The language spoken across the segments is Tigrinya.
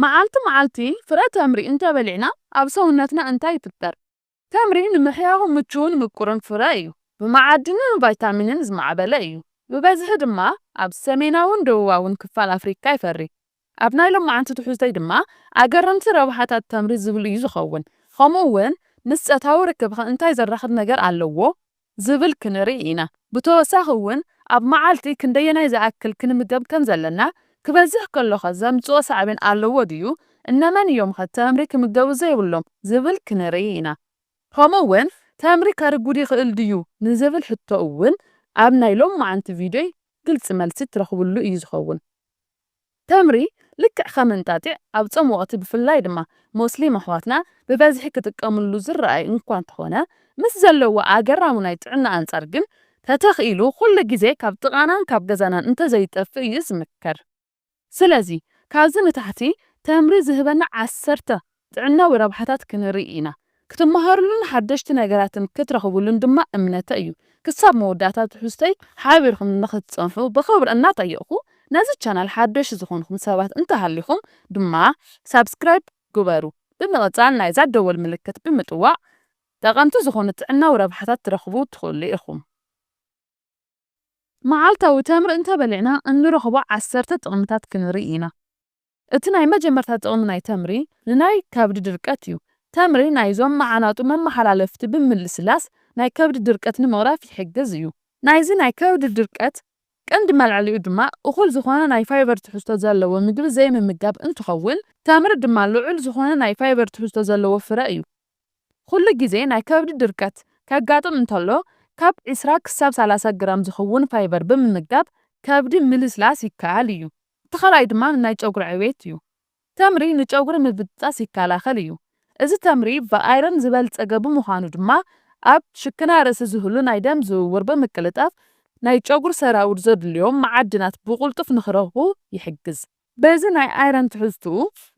መዓልቲ መዓልቲ ፍረ ተምሪ እንተበሊዕና ኣብ ሰውነትና እንታይ ይፍጠር? ተምሪ ንምሕያኹ ምቹውን ምቁርን ፍረ እዩ። ብመዓድንን ቫይታሚንን ዝማዕበለ እዩ። ብበዝሒ ድማ ኣብ ሰሜናውን ደቡባውን ክፋል ኣፍሪካ ይፈሪ። ኣብ ናይ ሎማዓንቲ ትሕዝቶይ ድማ ኣገረምቲ ረብሓታት ተምሪ ዝብል እዩ ዝኸውን። ከምኡ እውን ምስ ጸታዊ ርክብኸ እንታይ ዘራኽብ ነገር ኣለዎ? ዝብል ክንርኢ ኢና። ብተወሳኺ እውን ኣብ መዓልቲ ክንደየናይ ዝኣክል ክንምገብ ከም ዘለና፣ ክበዝሕ ከሎኸ ዘምጽኦ ሳዕቤን ኣለዎ ድዩ፣ እነመን እዮምኸ ተምሪ ክምገቡ ዘይብሎም ዝብል ክንርኢ ኢና። ከምኡ እውን ተምሪ ከርጉድ ይኽእል ድዩ ንዝብል ሕቶ እውን ኣብ ናይ ሎማዓንቲ ቪድዮይ ግልጺ መልሲ እትረኽብሉ እዩ ዝኸውን። ተምሪ ልክዕ ከም እንጣጢዕ ኣብ ጾም ወቕቲ ብፍላይ ድማ ሞስሊም ኣሕዋትና ብበዝሒ ክጥቀምሉ ዝረኣይ እንኳ እንተኾነ ምስ ዘለዎ ኣገራሙ ናይ ጥዕና ኣንጻር ግን ተተኽኢሉ ኩሉ ግዜ ካብ ጥቓናን ካብ ገዛናን እንተዘይጠፍእ እዩ ዝምከር። ስለዚ ካብዚ ንታሕቲ ተምሪ ዝህበና ዓሰርተ ጥዕናዊ ረብሓታት ክንርኢ ኢና፣ ክትመሃርሉን ሓደሽቲ ነገራትን ክትረኽብሉን ድማ እምነተ እዩ። ክሳብ መወዳእታ ትሕዝቶይ ሓቢርኩም ንኽትጸንሑ ብኽብሪ እናጠየቕኩ፣ ነዚ ቻናል ሓደሽቲ ዝኾንኩም ሰባት እንተሃሊኹም ድማ ሳብስክራይብ ግበሩ። ብምቕጻል ናይዛ ደወል ምልክት ብምጥዋቕ ጠቐምቲ ዝኾኑ ጥዕናዊ ረብሓታት ትረኽቡ ትኽእሉ ኢኹም። መዓልታዊ ተምሪ እንተበሊዕና እንረኽቦ ዓሰርተ ጥቕምታት ክንርኢ ኢና። እቲ ናይ መጀመርታ ጥቕሚ ናይ ተምሪ ንናይ ከብዲ ድርቀት እዩ። ተምሪ ናይዞም መዓናጡ መመሓላለፍቲ ብምልስላስ ናይ ከብዲ ድርቀት ንምቕራፍ ይሕግዝ እዩ። ናይዚ ናይ ከብዲ ድርቀት ቀንዲ መልዐሊኡ ድማ እኹል ዝኾነ ናይ ፋይበር ትሕዝቶ ዘለዎ ምግቢ ዘይምምጋብ እንትኸውን ተምሪ ድማ ልዑል ዝኾነ ናይ ፋይበር ትሕዝቶ ዘለዎ ፍረ እዩ። ኹሉ ግዜ ናይ ከብዲ ድርቀት ከጋጥም እንተሎ ካብ ዕስራ ክሳብ ሰላሳ ግራም ዝኸውን ፋይበር ብምምጋብ ከብዲ ምልስላስ ይከኣል እዩ። እቲ ካልኣይ ድማ ንናይ ጨጉሪ ዕቤት እዩ። ተምሪ ንጨጉሪ ምብጥጣስ ይከላኸል እዩ። እዚ ተምሪ ብኣይረን ዝበልፀገ ብምዃኑ ድማ ኣብ ሽክና ርእሲ ዝህሉ ናይ ደም ዝውውር ብምቅልጣፍ ናይ ጨጉሪ ሰራውር ዘድልዮም መዓድናት ብቑልጡፍ ንክረኽቡ ይሕግዝ። በዚ ናይ ኣይረን ትሕዝትኡ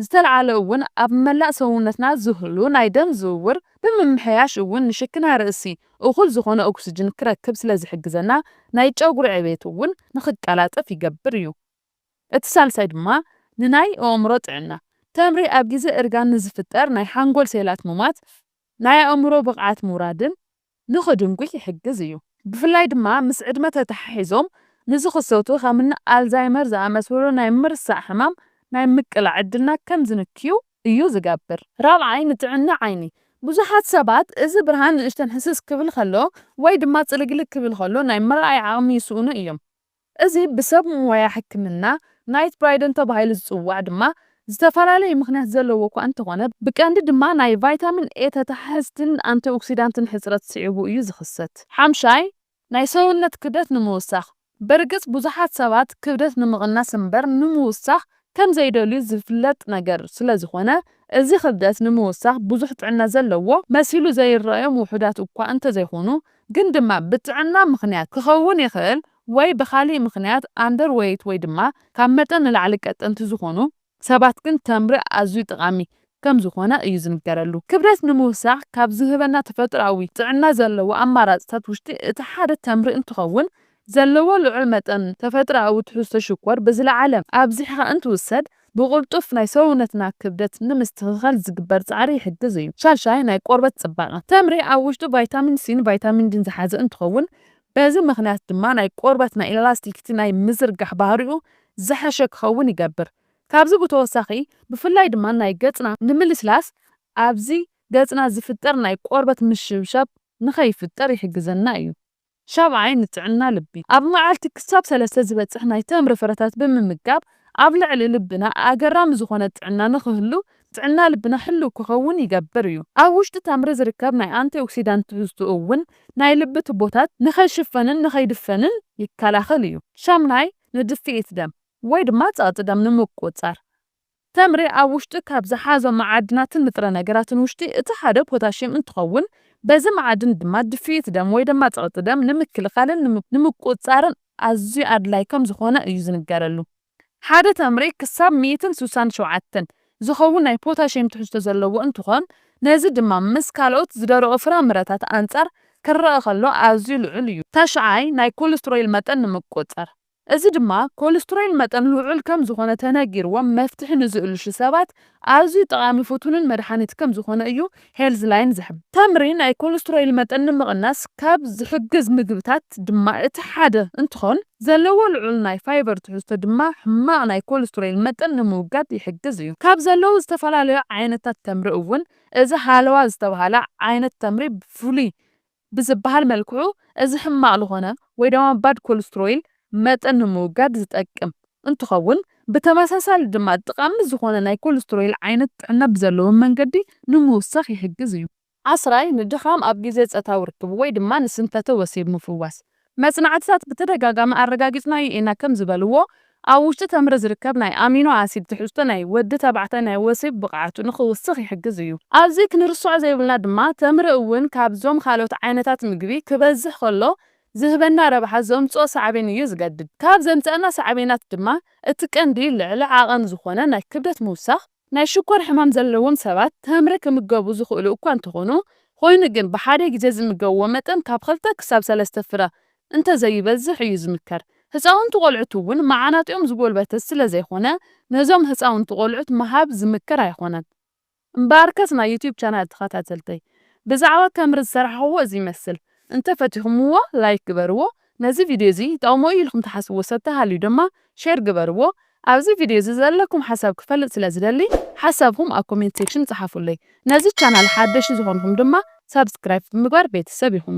ዝተልዓለ እውን ኣብ መላእ ሰውነትና ዝህሉ ናይ ደም ዝውውር ብምምሕያሽ እውን ንሽክና ርእሲ እኹል ዝኾነ ኦክስጅን ክረክብ ስለ ዝሕግዘና ናይ ጨጉሪ ዕቤት እውን ንኽቀላጠፍ ይገብር እዩ። እቲ ሳልሳይ ድማ ንናይ ኣእምሮ ጥዕና። ተምሪ ኣብ ግዜ እርጋን ንዝፍጠር ናይ ሓንጎል ሴላት ምሟት፣ ናይ ኣእምሮ ብቕዓት ምውራድን ንኽድንጒይ ይሕግዝ እዩ። ብፍላይ ድማ ምስ ዕድመ ተተሓሒዞም ንዝኽሰቱ ከምኒ ኣልዛይመር ዝኣመሰሉ ናይ ምርሳዕ ሕማም ናይ ምቅላዕ ዕድልና ከም ዝንክዩ እዩ ዝገብር። ራብዓይ፣ ንጥዕና ዓይኒ። ብዙሓት ሰባት እዚ ብርሃን ንእሽተን ህስስ ክብል ከሎ ወይ ድማ ጽልግልግ ክብል ከሎ ናይ ምርኣይ ዓቕሚ ይስእኑ እዮም። እዚ ብሰብ ሞያ ሕክምና ናይት ብራይደን ተባሂሉ ዝጽዋዕ ድማ ዝተፈላለየ ምኽንያት ዘለዎ እኳ እንተኾነ ብቀንዲ ድማ ናይ ቫይታሚን ኤ ተተሓሕዝትን ኣንቲኦክሲዳንትን ሕጽረት ስዒቡ እዩ ዝኽሰት። ሓምሻይ፣ ናይ ሰውነት ክብደት ንምውሳኽ። በርግጽ ብዙሓት ሰባት ክብደት ንምቕናስ እምበር ንምውሳኽ ከም ዘይደልዩ ዝፍለጥ ነገር ስለ ዝኾነ፣ እዚ ክብደት ንምውሳኽ ብዙሕ ጥዕና ዘለዎ መሲሉ ዘይረኣዮም ውሑዳት እኳ እንተ ዘይኮኑ፣ ግን ድማ ብጥዕና ምኽንያት ክኸውን ይኽእል ወይ ብኻሊእ ምኽንያት ኣንደር ወይት ወይ ድማ ካብ መጠን ንላዕሊ ቀጠንቲ ዝኾኑ፣ ሰባት ግን ተምሪ ኣዝዩ ጠቓሚ ከም ዝዀነ እዩ ዝንገረሉ። ክብደት ንምውሳኽ ካብ ዝህበና ተፈጥሮኣዊ ጥዕና ዘለዎ ኣማራጺታት ውሽጢ እቲ ሓደ ተምሪ እንትኸውን፣ ዘለዎ ልዑል መጠን ተፈጥሮኣዊ ትሕዝቶ ሽኮር ብዝለዓለ ኣብዚሕኻ እንትውሰድ ብቕልጡፍ ናይ ሰውነትና ክብደት ንምስትኽኻል ዝግበር ጻዕሪ ይሕግዝ እዩ። ሻድሻይ፣ ናይ ቆርበት ጽባቐ። ተምሪ ኣብ ውሽጡ ቫይታሚን ሲን ቫይታሚን ዲን ዝሓዘ እንትኸውን፣ በዚ ምኽንያት ድማ ናይ ቆርበት ናይ ኢላስቲክቲ ናይ ምዝርጋሕ ባህሪኡ ዝሐሸ ክኸውን ይገብር። ካብዚ ብተወሳኺ ብፍላይ ድማ ናይ ገጽና ንምልስላስ ኣብዚ ገጽና ዝፍጠር ናይ ቆርበት ምሽብሻብ ንኸይፍጠር ይሕግዘና እዩ። ሻብዓይ ንጥዕና ልቢ ኣብ መዓልቲ ክሳብ ሰለስተ ዝበጽሕ ናይ ተምሪ ፍረታት ብምምጋብ ኣብ ልዕሊ ልብና ኣገራሚ ዝኾነ ጥዕና ንኽህሉ ጥዕና ልብና ሕሉው ክኸውን ይገብር እዩ። ኣብ ውሽጢ ተምሪ ዝርከብ ናይ ኣንቲኦክሲዳንት ትሕዝትኡ እውን ናይ ልቢ ቱቦታት ንኸይሽፈንን ንኸይድፈንን ይከላኸል እዩ። ሻምናይ ንድፍኢት ደም ወይ ድማ ጸቕጢ ደም ንምቁጽጻር። ተምሪ ኣብ ውሽጢ ካብ ዝሓዞም መዓድናትን ንጥረ ነገራትን ውሽጢ እቲ ሓደ ፖታሽየም እንትኸውን በዚ መዓድን ድማ ድፍኢት ደም ወይ ድማ ጸቕጢ ደም ንምክልኻልን ንምቁጽጻርን ኣዝዩ ኣድላይ ከም ዝኾነ እዩ ዝንገረሉ። ሓደ ተምሪ ክሳብ ሚእትን ስሳን ሸውዓተን ዝኸውን ናይ ፖታሽየም ትሕዝቶ ዘለዎ እንትኾን፣ ነዚ ድማ ምስ ካልኦት ዝደረቑ ፍራምረታት ኣንፃር ክረኣ ከሎ ኣዝዩ ልዑል እዩ። ታሽዓይ፣ ናይ ኮለስትሮይል መጠን ንምቁፅፃር፣ እዚ ድማ ኮለስትሮይል መጠን ልዑል ከም ዝኾነ ተነጊርዎም መፍትሒ ንዝእልሹ ሰባት ኣዝዩ ጠቓሚ ፍቱንን መድሓኒት ከም ዝኾነ እዩ ሄልዝላይን ዝሕብር። ተምሪ ናይ ኮለስትሮይል መጠን ንምቕናስ ካብ ዝሕግዝ ምግብታት ድማ እቲ ሓደ እንትኾን ዘለዎ ልዑል ናይ ፋይበር ትሕዝቶ ድማ ሕማቕ ናይ ኮለስትሮይል መጠን ንምውጋድ ይሕግዝ እዩ። ካብ ዘለዉ ዝተፈላለዩ ዓይነታት ተምሪ እውን እዚ ሃለዋ ዝተብሃለ ዓይነት ተምሪ ብፍሉይ ብዝበሃል መልክዑ እዚ ሕማቕ ልኾነ ወይ ደማ ባድ ኮልስትሮይል መጠን ንምውጋድ ዝጠቅም እንትኸውን ብተመሳሳሊ ድማ ጥቓሚ ዝኾነ ናይ ኮልስትሮይል ዓይነት ጥዕና ብዘለዎ መንገዲ ንምውሳኽ ይሕግዝ እዩ። ዓስራይ፣ ንድኻም ኣብ ግዜ ጸታዊ ርክብ ወይ ድማ ንስንፈተ ወሲብ ምፍዋስ መጽናዕትታት ብተደጋጋሚ ኣረጋጊጽናዮ ኢና ከም ዝበልዎ፣ ኣብ ውሽጢ ተምሪ ዝርከብ ናይ ኣሚኖ ኣሲድ ትሕዝቶ ናይ ወዲ ተባዕታይ ናይ ወሲብ ብቕዓቱ ንኽውስኽ ይሕግዝ እዩ። ኣብዚ ክንርስዖ ዘይብልና ድማ ተምሪ እውን ካብዞም ካልኦት ዓይነታት ምግቢ ክበዝሕ ከሎ ዝህበና ረብሓ ዘምጽኦ ሳዕቤን እዩ ዝገድድ። ካብ ዘምጸኣልና ሳዕቤናት ድማ እቲ ቀንዲ ልዕሊ ዓቐን ዝኾነ ናይ ክብደት ምውሳኽ፣ ናይ ሽኮር ሕማም ዘለዎም ሰባት ተምሪ ክምገቡ ዝኽእሉ እኳ እንተኾኑ፣ ኾይኑ ግን ብሓደ ግዜ ዝምገብዎ መጠን ካብ ኽልተ ክሳብ ሰለስተ ፍረ እንተዘይበዝሕ እዩ ዝምከር። ህፃውንቲ ቆልዑት እውን መዓናጢኦም ዝጎልበተ ስለዘይኾነ ነዞም ህፃውንቲ ቆልዑት ምሃብ ዝምከር ኣይኾነን። እምበኣርከስ ናይ ዩቱብ ቻናል ተኸታተልተይ ብዛዕባ ተምሪ ዝሰራሕኽዎ እዚ ይመስል፣ እንተፈቲኹምዎ ላይክ ግበርዎ፣ ነዚ ቪድዮ እዚ ይጠቕሞ እዩ ኢልኩም ትሓስብዎ ሰብ ተሃልዩ ድማ ሼር ግበርዎ። ኣብዚ ቪድዮ እዚ ዘለኩም ሓሳብ ክፈልጥ ስለ ዝደሊ ሓሳብኩም ኣብ ኮሜንት ሴክሽን ጽሓፉለይ። ነዚ ቻናል ሓደሽቲ ዝኾንኹም ድማ ሳብስክራይብ ብምግባር ቤተሰብ ይኹኑ።